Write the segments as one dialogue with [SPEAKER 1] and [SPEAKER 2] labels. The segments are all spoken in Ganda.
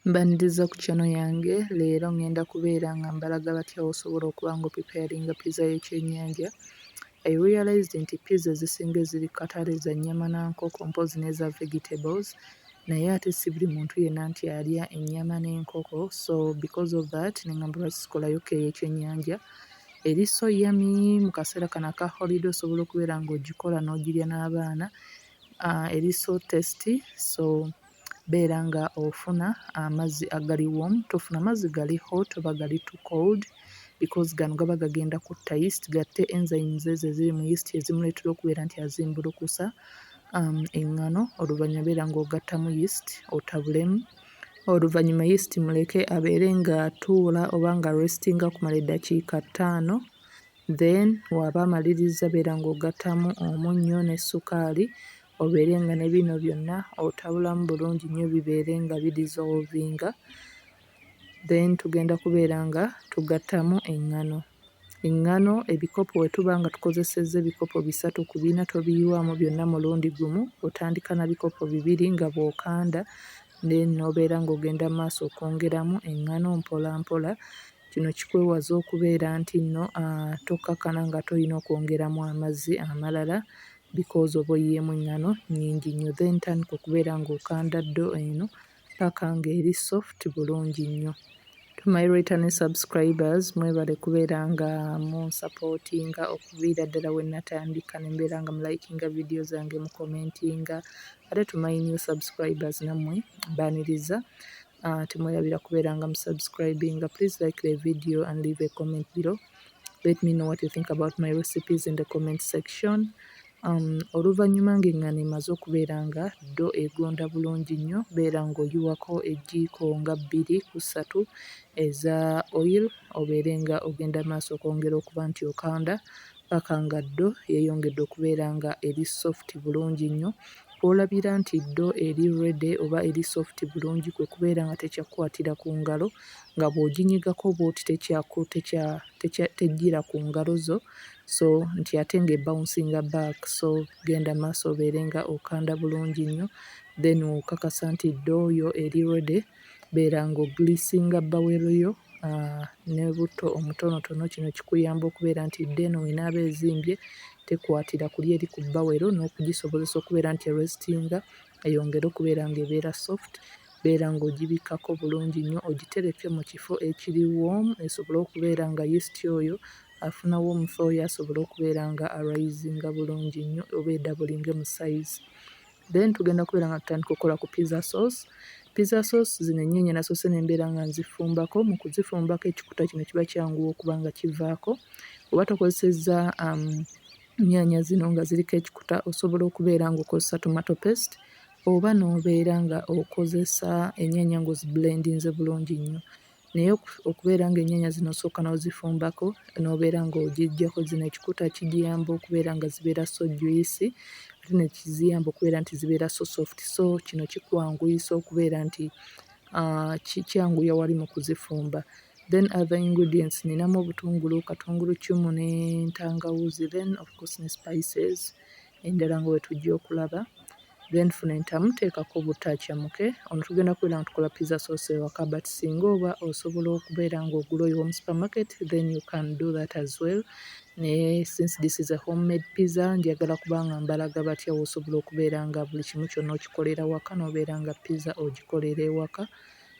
[SPEAKER 1] Mbaniriza ku channel yange leero ngenda kubeera nga mbalaga batya wosobola okuba nga opipeyalinga pizza y'ekyenyanja I realized nti pizza ezisinga eziri kukatale za nnyama na nkoko mpozzi neza vegetables naye ate si buli muntu yenna nti alya ennyama n'enkoko so because of that nengamba lwaki sikolayo ko ey'ekyenyanja eri so yummy mu kaseera kano aka holiday osobola okubeera nga ogikola n'ogirya n'abaana ah, eri so tasty so beera nga ofuna amazzi agali warm tofuna mazzi gali hot oba gali too cold because gano gaba gagenda kutta yeast gatte enzymes ezo eziri mu yeast ezimuleetera okubeera nti azimbulukusa eŋŋano. Oluvannyuma beera ng'ogattamu yeast otabulemu. Oluvannyuma yeast muleke abeere ng'atuula oba nga aresitinga okumala eddakiika ttaano. Then bw'aba amalirizza beera ng'ogattamu omunnyo ne ssukaali obeere nga ne bino byonna otabulamu bulungi nnyo bibeere nga bi dissolvinga then tugenda kubeera nga tugattamu eŋŋano. Eŋŋano ebikopo bwe tuba nga tukozesezza ebikopo bisatu ku bina tobiyiwamu byonna mulundi gumu, otandika na bikopo bibiri nga bw'okanda then n'obeera ng'ogenda mu maaso okwongeramu eŋŋano mpolampola. Kino kikwewaza okubeera nti nno ah, tokkakkana ng'ate olina okwongeramu amazzi amalala because oba oyiyeemu enngano nnyingi nnyo then tandika okubeera nga okanda ddo eno paka nga eri soft bulungi nnyo. To my returning subscribers mwebale kubeera nga munsapootinga okuviira ddala we natandika ne mbeera nga mulayikinga vidiyo zange mukomentinga ate to my new subscribers nammwe mbaaniriza ah, temwerabira kubeera nga musubscribinga please like the video and leave a comment below let me know what you think about my recipes in the comment section um, oluvannyuma ng'eŋŋano emaze okubeera nga ddo egonda bulungi nnyo beera ng'oyiwako ejjiiko nga bbiri ku ssatu eza oil obeere nga ogenda maaso okwongera okuba nti okanda paka nga ddo yeeyongedde okubeera nga eri soft bulungi nnyo kw'olabira nti ddo eri rede oba eri soft bulungi kwe kubeera nga tekyakukwatira ku ngalo nga bw'oginyigako bw'oti tekyaku tekya tekya tejjira ku ngalo zo so nti ate nga ebawunsinga back so genda maaso obeere nga okanda bulungi nnyo then okakasa nti door yo eri ready beera nga ogiliisinga bowel yo ne butto omutonotono kino kikuyamba okubeera nti door eno bwenaaba ezimbye tekwatira kuli eri ku bowel n'okugisobozesa okubeera nti erestinga eyongere okubeera nga ebeera soft beera ng'ogibikkako bulungi nnyo ogitereke mu kifo ekiri warm esobole okubeera nga yeast oyo afuna warmth oyo asobole okubeera nga a risinga bulungi nnyo oba edabulinge mu size. Then tugenda kubeera nga tutandika okukola ku pizza sauce. Pizza sauce zino ennyaanya nasoose ne mbeera nga nzifumbako. Mu kuzifumbako ekikuta kino kiba kyanguwa okuba nga kivaako. Oba tokozesezza um, nnyaanya zino nga ziriko ekikuta osobola okubeera ng'okozesa tomato paste Oba n'obeera nga okozesa ennyaanya nga ozibulendinze bulungi nnyo naye okubeera ng'ennyaanya zino osooka n'ozifumbako n'obeera ng'ogiggyako zino ekikuta kigiyamba okubeera nga zibeera so juyisi ate ne kiziyamba okubeera nti zibeera so sofuti. So kino kikwanguyisa okubeera nti kyanguya wali mu kuzifumba. Then other ingredients nninamu obutungulu, katunguluccumu n'entangawuuzi then of course ne spices endala nga bwetujja okulaba then funa entamu teekako butto acamuke ono tugenda kubeera nga tukola pizza sauce ewaka but singa oba osobola okubeera nga ogula oyo omu supermarket then you can do that as well naye since this is a homemade pizza njagala kubanga mbalaga batya wosobola okubeera nga buli kimu kyonna okikolera waka nobeera nga pizza ogikolera ewaka.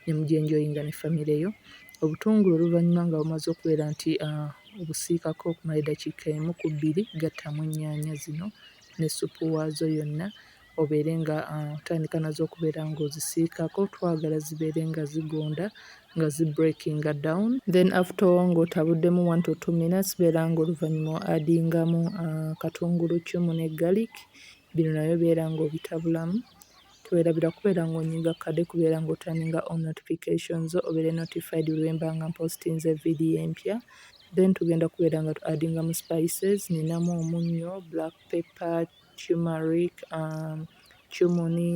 [SPEAKER 1] ne mugyenjoyinga ne famire yo. Obutungulu oluvannyuma nga bumaze okubeera nti obusiikako okumala eddakiika emu ku bbiri, gattamu ennyaanya zino ne ssupu waazo yonna obeere ng'otandika nazo okubeera ng'ozisiikako. Twagala zibeere nga zigonda nga zi breakinga down. Then after all ng'otabuddemu one to two minutes beera ng'oluvannyuma o adingamu katunguluccumu ne garlic, bino nabyo beera ng'obitabulamu. Twerabira kubeera nga onyinga kukade kubeera nga oturninga on notification zo obeere notified buli lwemba nga mpostinze video empya then tugenda kubeera nga tu addinga mu spices ninamu omunnyo, black pepper, tumeric, um, cumuni,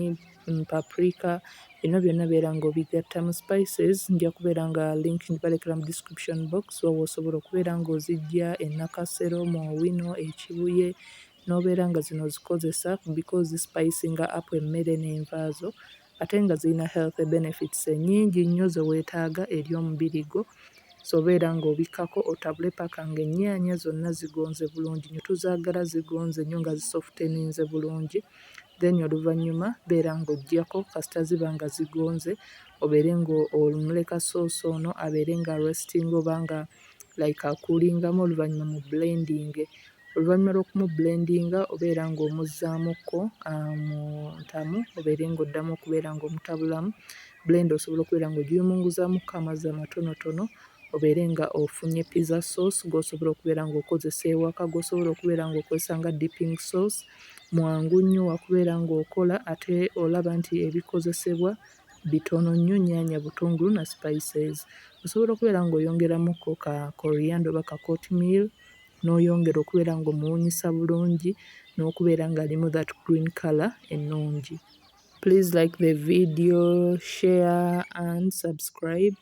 [SPEAKER 1] mm, paprika bino byonna beera nga obigatta mu spices nja kubeera nga link ngibalekera mu description box owo osobola okubeera nga ozijja enakasero mu owino ekibuye nobeera nga zino ozikozesa because zi spicinga up emmere n'envaazo ate nga zirina healthy benefits enyingi nnyo zewetaaga eri omubiri gwo so beera nga obikkako otabule paka nga ennyaanya zonna zigonze bulungi nnyo tuzaagala zigonze nnyo nga zi softeninze bulungi then oluvannyuma beera nga ojjako kasita ziba nga zigonze obeere nga omuleka soosi ono abeere nga restinga oba nga like akuulingamu oluvannyuma mu blendinge Oluvannyuma lw'okumubulendinga obeera ng'omuzzaamukko mu ntamu obeere ng'oddamu okubeera ng'omutabulamu. Bbulenda osobola okubeera ng'ogiyumunguzaamuko amazzi amatonotono obeere ng'ofunye pizza sauce gw'osobola okubeera ng'okozesa ewaka, gw'osobola okubeera ng'okozesa nga dipping sauce. Mwangu nnyo wa kubeera ng'okola ate olaba nti ebikozesebwa bitono nnyo, nnyaanya, butungulu na spices. Osobola okubeera ng'oyongeramuko ka korianda oba ka kotimiru. noyongera okubeera nga omuwunyisa bulungi nokubeera nga alimu that green colour ennungi. Please like the video, share and subscribe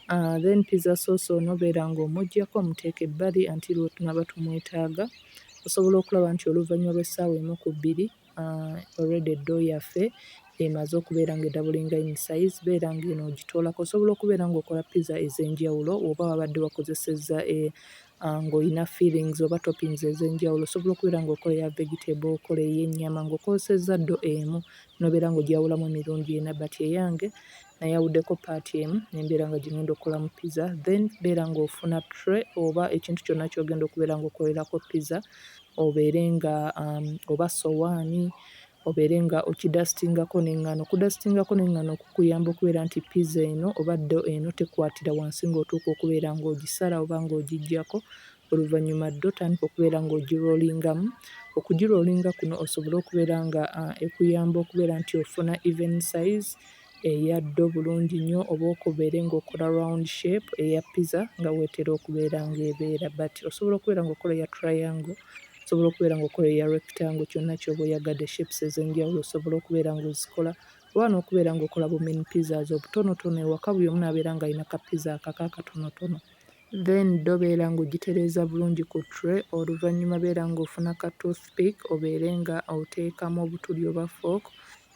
[SPEAKER 1] uh, then pizza sauce ono beera nga omujjako omuteeka ebbali until wetunaba tumwetaaga osobola okulaba nti oluvannyuma lw'essaawa emu ku bbiri Already door yaffe emaze okubeera nga edabulinga in size beera nga eno ojitoolako osobola okubeera nga okola pizza ezenjawulo oba wabadde wakozesezza nga olina fillings oba toppings ezenjawulo osobola okubeera nga okola eya vegetable okola eyennyama nga okozesezza door emu nobeera nga ogyawulamu emirundi ena but eyange nayawuddeko part emu nembeera nga gyengenda okukolamu pizza then beera nga ofuna tray oba ekintu kyonna kyogenda okubeera nga okolerako pizza. obeere nga oba ssowaani obeere nga okidasitingako n'eŋŋaano. Okudasitingako n'eŋŋaano kukuyamba okubeera nti pizza eno oba ddo eno tekwatira wansi ng'otuuka okubeera ng'ogisala oba ng'ogiggyako. Oluvannyuma ddo tandika okubeera ng'ogiroolingamu. Okugiroolinga kuno osobole okubeera nga ekuyamba okubeera nti ofuna even size. eya ddo bulungi nnyo oba okubeere ng'okola round shape eya pizza nga weetera okubeera ng'ebeera but osobola okubeera ng'okola eya triangle, osobola okubeera ng'okola eya rectangle kyonna ky'oba oyagadde shapes ez'enjawulo osobola okubeera ng'ozikola oba n'okubeera ng'okola bu mini pizzas obutonotono ewaka buli omu n'abeera ng'alina ka pizza akake akatonotono. Then ddo beera ng'ogitereeza bulungi ku tray oluvannyuma beera ng'ofuna ka toothpick obeere nga oteekamu obutuli oba fork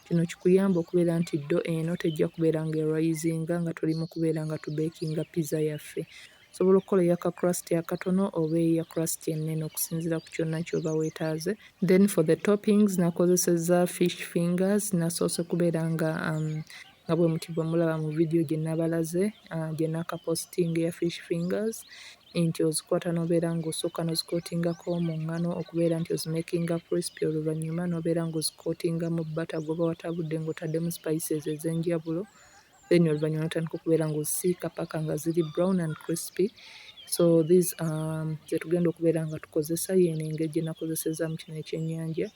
[SPEAKER 1] Kino kikuyambe okubeera nti ddo eno tejja kubeera nga erayizinga nga tuli mu kubeera nga tubeekinga pizza yaffe. Osobola okukola eya ka crust akatono oba eya crust ennene okusinziira ku kyonna ky'oba weetaaze. Then for the toppings nakozesezza fish fingers, nasoose kubeera nga um, nga bwe muti bwe mulaba mu vidiyo gye nabalaze uh, gye nakapositinga eya fish fingers nti ozikwata n'obeera ng'osooka n'ozikootingako mu nngano okubeera nti ozimekinga crispy oluvannyuma n'obeera ng'ozikootinga mu bbata gw'oba watabudde ng'otaddemu spices ez'enjawulo then oluvannyuma n'otandika okubeera ng'ozisiika paka nga ziri brown and crispy so these are ze tugenda okubeera nga tukozesa y'eno engeri gye nakozesezaamu kino ekyennyanja.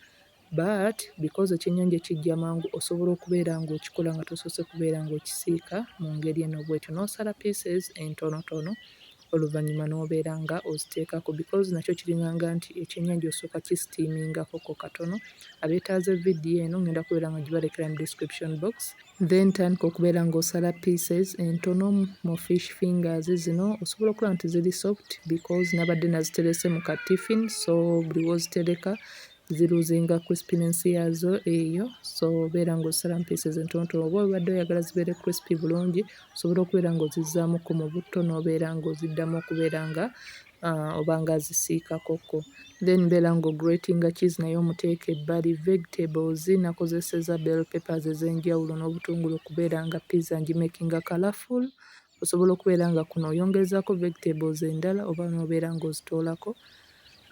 [SPEAKER 1] But because ekyennyanja ekijja mangu osobola okubeera ng'okikola nga tosoose kubeera ng'okisiika mu ngeri eno bw'etyo n'osala pieces entonotono oluvannyuma n'obeera nga oziteekako because nakyo kiringanga nti ekyennyanja osooka kisitiimingakoko katono. Abeetaaze vidiyo eno ngenda kubeera nga gibalekera mu description box. Then tandika okubeera ng'osala pieces entono mu fish fingers zino osobola okulaba nti ziri soft because nabadde naziterese mu ka tiffin so buli w'ozitereka ziruzinga crispiness yaazo eyo so obeera ng'osala mu pieces entonotono oba obadde oyagala zibeere crispy bulungi osobola okubeera ng'ozizzaamuko mu butto n'obeera ng'oziddamu okubeera nga uh, oba ng'azisiikakokko then mbeera ng'ogratinga cheese naye omuteeka ebbali vegetables nakozeseza bell peppers ez'enjawulo n'obutungulu okubeera nga pizza ngimakinga colorful osobola okubeera nga kuno oyongerezaako vegetables endala oba n'obeera ng'ozitoolako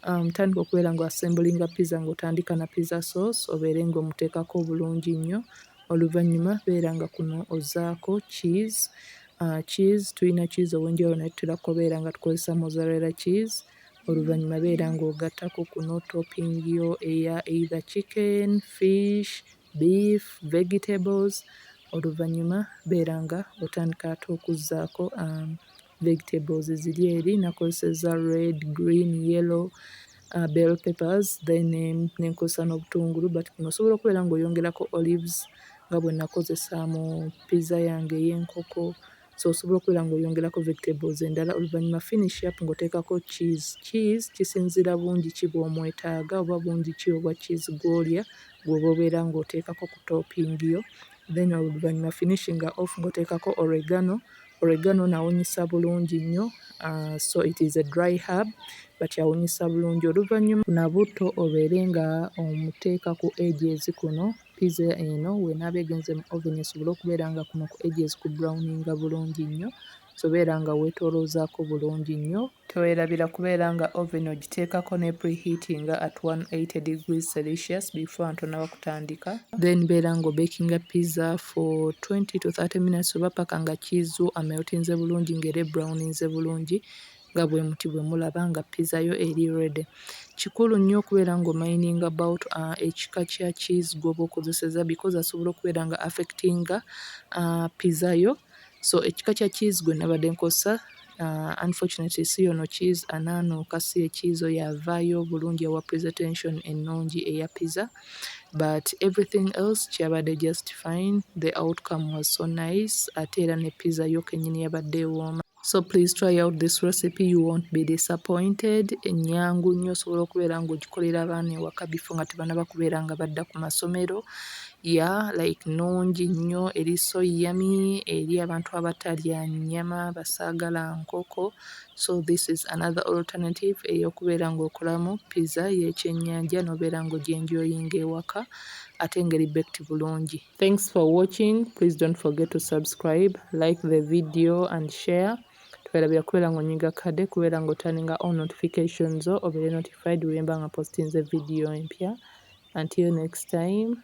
[SPEAKER 1] um, tandika okubeera ng'oassemblinga pizza ng'otandika na pizza sauce obeere ng'omuteekako obulungi nnyo oluvannyuma beera nga kuno ozaako cheese uh, cheese tulina cheese ow'enjawulo naye tutera kubeera nga tukozesa mozarella cheese oluvannyuma beera ng'ogattako kuno topping yo eya either chicken fish beef, vegetables oluvannyuma beera nga otandika ate okuzzaako vegetables ziri eri nakozesezza red, green, yellow, bell peppers then ne nkozesa n'obutungulu but kuno osobola okubeera ng'oyongerako olives nga bwe nakozesa mu pizza yange ey'enkoko. so osobola okubeera ng'oyongerako vegetables endala oluvannyuma finish up ng'oteekako cheese. Cheese kisinziira bungi ki bw'omwetaaga oba bungi ki obwa cheese gw'olya gw'oba obeera ng'oteekako ku topping yo then oluvannyuma finishing off ng'oteekako oregano. Oregano ono awunyisa bulungi nnyo ah, so it is a dry herb but awunyisa bulungi. Oluvannyuma na butto obeere nga omuteeka ku edges kuno Pizza eno wenaaba egenze mu oven esobole okubeera nga kuno ku edges ku browninga bulungi nnyo so beera nga weetooloozaako bulungi nnyo. Teweerabira kubeera nga oven ogiteekako ne preheatinga at 180 degrees Celsius before nga tonnaba kutandika. Then beera nga obekinga pizza for 20 to 30 minutes oba paka nga cheese wo ameltinze bulungi nga era ebrowninze bulungi. nga bwemuti bwemulaba nga pizza yo eri ready kikulu nnyo okubeera nga omayininga about uh, ekika kya cheese gwoba okozeseza because asobola okubeera nga affectinga uh, pizza yo so ekika kya cheese gwe nabadde nkozesa uh, unfortunately si yono cheese anaanuuka si ekiizo yavaayo obulungi ewa presentation ennungi eya pizza but everything else kyabadde just fine the outcome was so nice ate era ne pizza yo kenyini yabadde ewooma so please try out this recipe you won't be disappointed enyangu nnyo osobola okubeera ng'ogikolera abaana ewaka bifo nga tebana bakubeera nga badda ku masomero ya like nungi nnyo eri so yami eri abantu abatalya nnyama basaagala nkoko so this is another alternative ey'okubeera ng'okolamu pizza y'ekyennyanja n'obeera ng'ogyenjoyinga ewaka ate ngeri bekti bulungi Thanks for watching. Please don't forget to subscribe, like the video and share. Tuwerabira kubeera ng'onyiga kade kubeera ng'otaninga all notifications zo obeere notified wemba nga postinze video empya. Until next time.